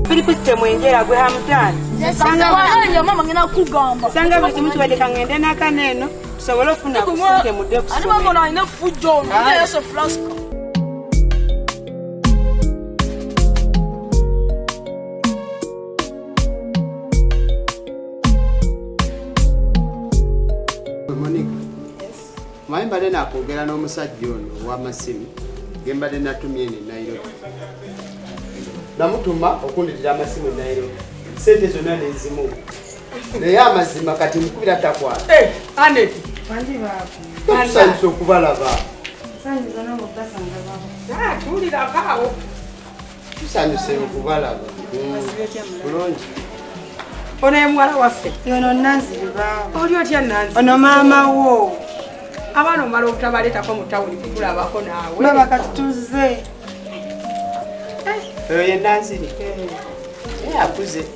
Filipite mwengera gwe hamutani sanga wanyo mama ngina kugamba sanga bwe kimu kibadde kangende n'akaneno tusobole okufuna kusente mudde kusoma ani mama alina fujjo ono ah. naye yesu flaska maye mbadde nakwogera n'omusajja ono owamasimu ge mbadde natumye ne nairobi namutuma okunditira amasimu e nairobi sente zonna nezimu naye amazima kati mukubira takwala eh, tusanyusa okubalaba ah, Tusanyuse okubalaba. Bulungi. Ono ye muwala waffe. Ono Nanzi bibaawo. Oli otya Nanzi? Ono maama wo. Abaana omala obutabaleetako mu tawuni kukulabako naawe. Baba kati tuzze. Eh. Oyo ye Nanziri. Eh. Naye akuze.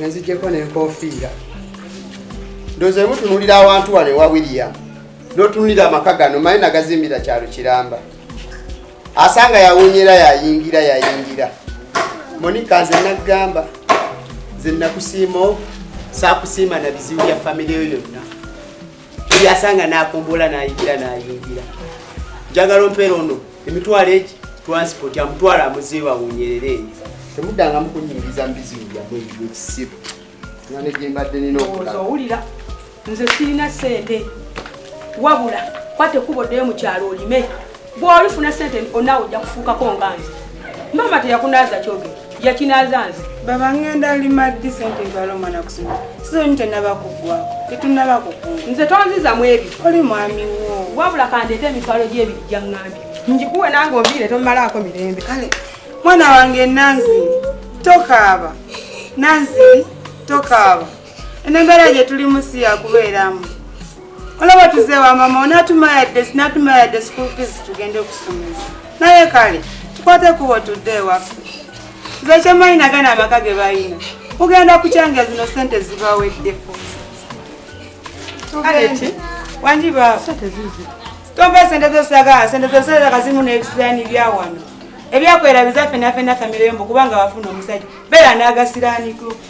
nzijjeko nenkofiira ndoza emutunulira awantu wano ewa william notunulira amaka gano maye nagazimbira kyalo kiramba asanga yawunyera yayingira yayingira monika nze nagamba nze nakusiima sakusiima na bizibu bya famiry yo yonna yasanga nakumbula nayingira nayingira njagala ompeera ono emitwalo egi transport amutwala amuziiba awunyerere eyo temudanga mukunyingiza mubizibu byamwe ekisibu nane gyembadde nina okuowulira nze sirina sente wabula kwate kuba oddeyo mukyalo olime bwolifuna sente onawe ojja kufuukako nga nze maama teyakunaaza kyoge yakinaaza nze baba ngenda lima ddi sente ntwala omwana kusoma sizoni tenaba kugwako tetunaba kukuma nze tonziza mu ebyo oli mwami wo wabula kandeeta emitwalo gyebiri gyaŋŋambye njikuwe nange oviire tomumalaako mirembe kale mwana wange nansi tokaaba nansi tokaaba eno embeera gye tulimu si yakubeeramu olaba tuzeewa mama onatuma yadde sinatuma yadde school fees tugende okusomesa naye kale tukwate kubo tudde ewaffe nze kyemanyi nagana amaka ge balina ugenda kukyanga zino sente zibaweddeko wangi baba tomba sente zosagala sente zosagala kazimu nebisirani byawano ebyakwera bizaffe naffe nafamireyo mbu kubanga wafuna omusajja beera nagasiraaniko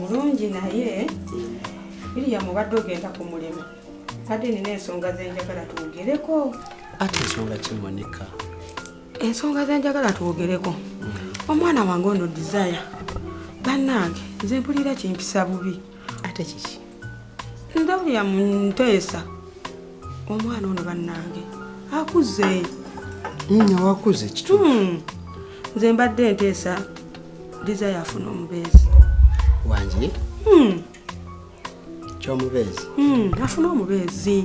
mulungi mm, naye biriya mubadde ogenda ku mulimu kade nina ensonga zenjagala twogereko ate ensonga kimonika ensonga zenjagala twogereko mm. omwana wange ono desire bannange nze mpulira kimpisa bubi ate kiki ndawulira mu nteesa omwana ono bannange akuze nnya wakuze kitu hmm. nze mbadde enteesa desire afuna omubeezi wange hmm. kyomubeezi hmm, afuna omubeezi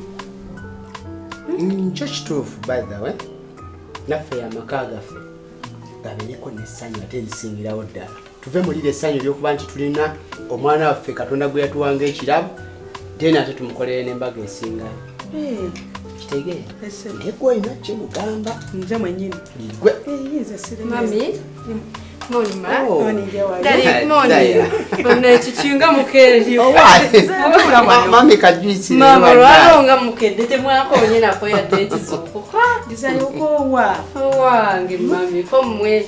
nkyo kituufu by the way naffe amaka gaffe gabeereko n'essanyu ate erisingirawo ddala tuve mulira essanyu eryokuba nti tulina omwana waffe katonda gwe yatuwanga ekirabo then ate tumukolere nembaga esinga eh. kitegee ngegwe olina kimugamba nze mwenyini gwe eh, nekikinga mukeeryoaolwalonga mukedde temwakonyenako yadde ekizuukuwange mami komwe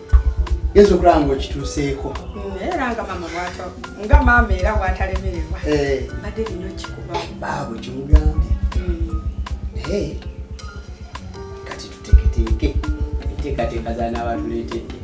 yesu okulaba nga okituuseeko naye era nga mama bwato nga maama era bwatalemererwa eh. badde lino kikubabaabwe kimugambye hmm. naye kati tuteketeeke enteekateeka zanaabantuleetedde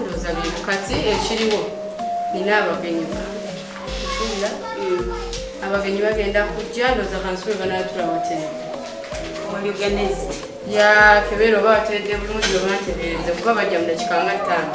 ndoza bintu kati ekiriwo nina abagenyi abagenyi bagenda kujja ndoza kansube banatula watee ya kebeera oba wateredde bulungi oba ntereeze kuba bajja mu dakika nga ttaano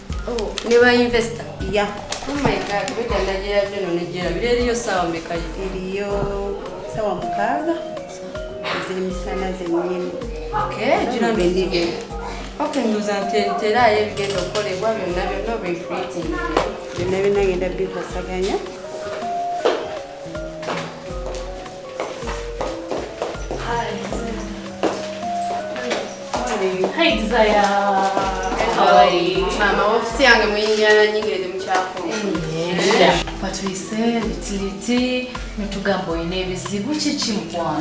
Oh, ne ba investor. Yeah. Oh my god, we can Nigeria byo no Nigeria. Biriyo sawa mekayo. Biriyo sawa mukaga. Ziri misana zenyini. Okay, jina bendige. Okay, ndoza ntentera ye bigenda okolebwa byonna byonna be creating. Byonna byonna ngenda bikosaganya. Hi Desire. How are you? Mama, ofisi yange muyinyana nyingi ndi mukyako. Patwise bitiriti mitugambo ine ebizibu kiki mukwana.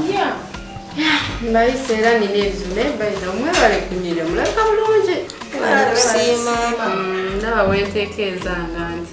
Yeah. Mbayise era nina ebizibu naye bayiza omwebale kunyirira mulabika bulungi. Ndaba wenteekeeza nga nti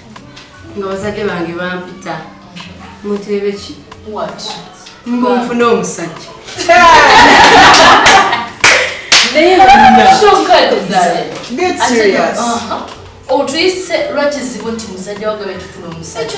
nga bazadde bange bampita muteebe ki nfuna omusajja otuyise lwakizibu nti musajja wagabe tufuna omusajja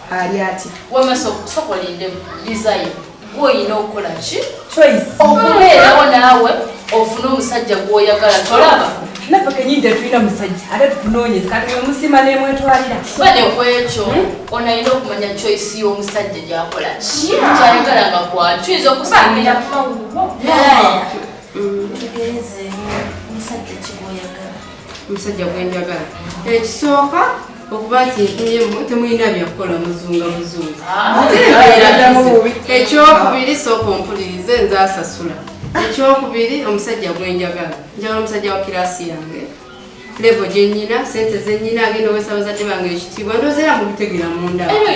ali ati wama sokolinde bizayo gwoyina okukola ki okubeerawo naawe ofune omusajja gwoyagala tolaba naffe kenyini tetulina musajja ate tukunoonyeza kati wemusima nemwetwalira bade kwekyo hmm? onalina okumanya choice y'omusajja gyakola ki kyayagala nga kwali tuyinza okusamira omusajja gwenjagala ekisooka okuba nti ntunyemu temulina byakukola muzunga muzungu ah. ekyokubiri sooka ompulirize nze asasula ekyokubiri omusajja gwenjagala njagala omusajja wa kirasi yange levo gyenyina sente zenyina agenda owesa bazadde bange ekitiibwa ndozeera mukutegera munda ah, ah,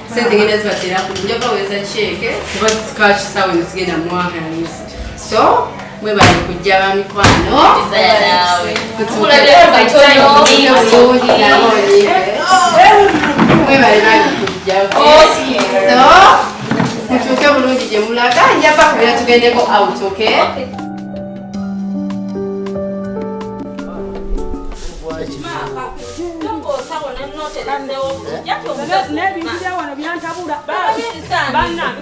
sente ngenda zibateraku nja baweza kyeke kuba kakisaawe nezigenda mwaka yalizi so mwebale kujja bamikwano mwebale nage kujja so mutuuke bulungi gye mulaga nja bakubira tugendeko out okay n'ebintu bya wano byantabula banange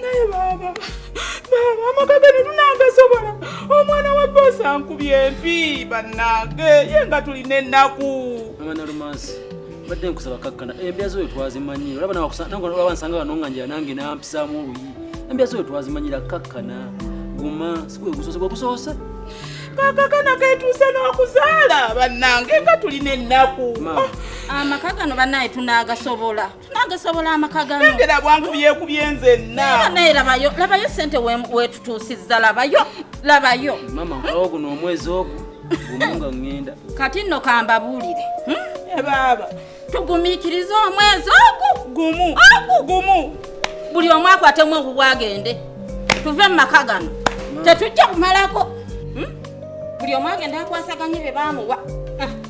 naye baaba baaba amaka gano tunagasobola omwana wa boosi ankubye empi bannange ye nga tulina ennaku mama nalumansi mbadde nkusaba kakkana embya zoyo twazimanyira olaba nawakusanaba nsanga wano nga njira nange nampisaamu oluyi embya zoyo twazimanyira kakkana guma sigwe gusoose gwe gusoose kakakana ketuuse n'okuzaala bannange nga tulina ennaku amaka gano banaye tunagasobola nange sobola amaka ganange labwangu byekubye nzenna naye labayo labayo sente wetutuusizza labayo labayo mama nkalawo guno omwezi ogwo gumunga ŋŋenda kati nno kambabuulire hmm? e baaba tugumiikirize omwezi ogu gumu ogu gumu buli omu akwatemu ogugwa agende tuve mu maka gano tetujja kumalako hmm? buli omu agende akwasaganye bye baamuwa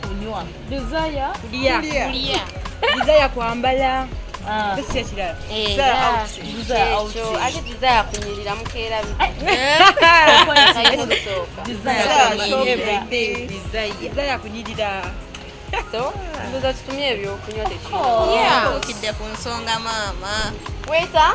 kunywa desire kulya kulya desire kwambala ah. tekikirala eh, ate desire kunyirira mukeera desire kunyirira so ndoza tutumye ebyokunywa tekikidde oh. ku nsonga maama weta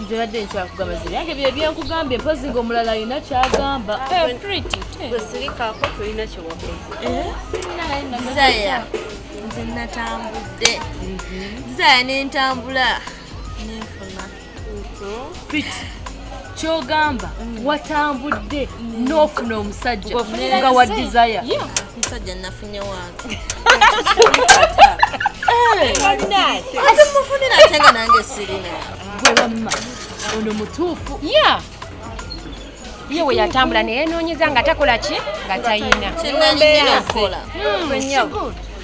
nzibadde nkyakugamba ziri yange bye byenkugambye mpozi nga omulala alina kyagamba wesirikako tolina kyewakozaya nze natambudde zaya nentambula nenfuna kyogamba mm. watambudde n'ofuna omusajja nga wa desire omusajja nafunye wange ate mufunira ate nga nange sirina gwe wamma ono mutuufu ya ye we yatambula naye noonyeza nga takola ki nga tayina kyenalina okukola hmm,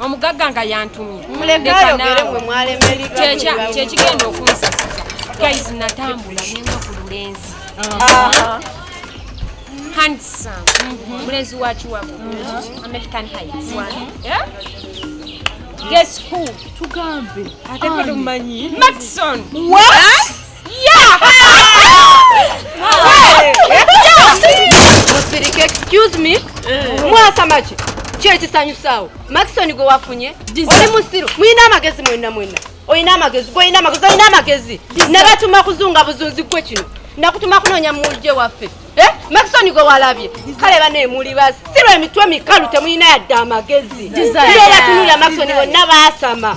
omugagga nga yantumye kyekigenda okunsasisa guys natambula nenga ku lulenzi handsome mhm. mulenzi wa kiwago mhm. american heights guess who tugambe ate kwetumanyi ah. maxon what Excuse me. Eh. Mwasa machi. Kye kisanyusaawo. Maxon gwe wafunye. Oli musiru. Mwina amagezi mwena mwena. Oyina amagezi, gwe oyina amagezi, oyina amagezi. Nabatuma kuzunga buzunzi gwe kino. Nakutuma kunoonya mulje waffe. Eh? Maxon gwe walabye. Kale bane muli basi. Sirwa emitwe mikalu temuyina yadde amagezi. Era tunulya Maxon bonna baasama.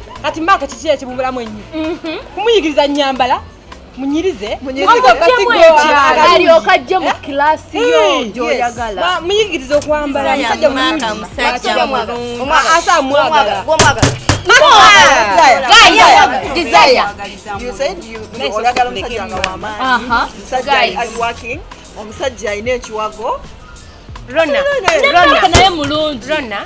kati maaka kiki ekibubulamu ennyo mhm. kumuyigiriza nyambala munyirize alyoka ajje mu kilasi eh? yo eh, gyoyagala muyigirize okwambala musajja mulungiasamwagala omusajja alina ekiwago rona naye mulungi rona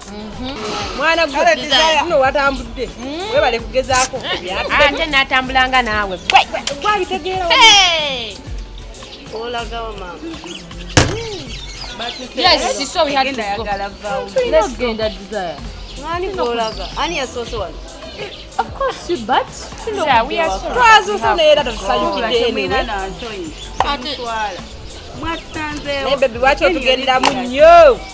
Mhm. mwana gweino watambudde mm. webale kugezaako ate natambulanga naawe gwabitegeera olagawa mama ani yasoose wano twazuusaneera tatusanyukidde naye bebi waki otugenderamu nnyo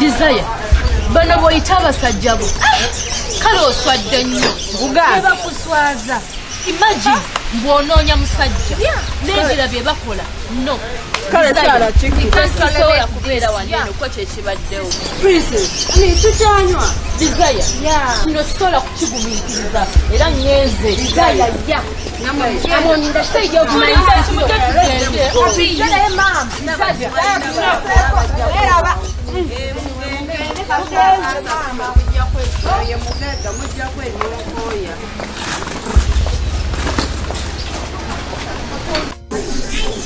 Desire, bano boyita abasajja bo ah! kale oswadde nnyo ebakuswaza imagine bwonoonya musajja nengira bye bakola no kalesobola kubeera waneno ko kyekibaddewo tukyanywa desire kino sisobola kukigumiikiriza era ngenze desire ya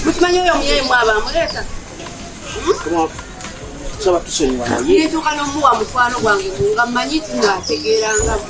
mukimanyi oyo omuyayi mwaba amuleeta tusaba tusonyiwa naye ntuuka n'omuwa mukwano gwange nga mmanyi nti ng'ategeeranga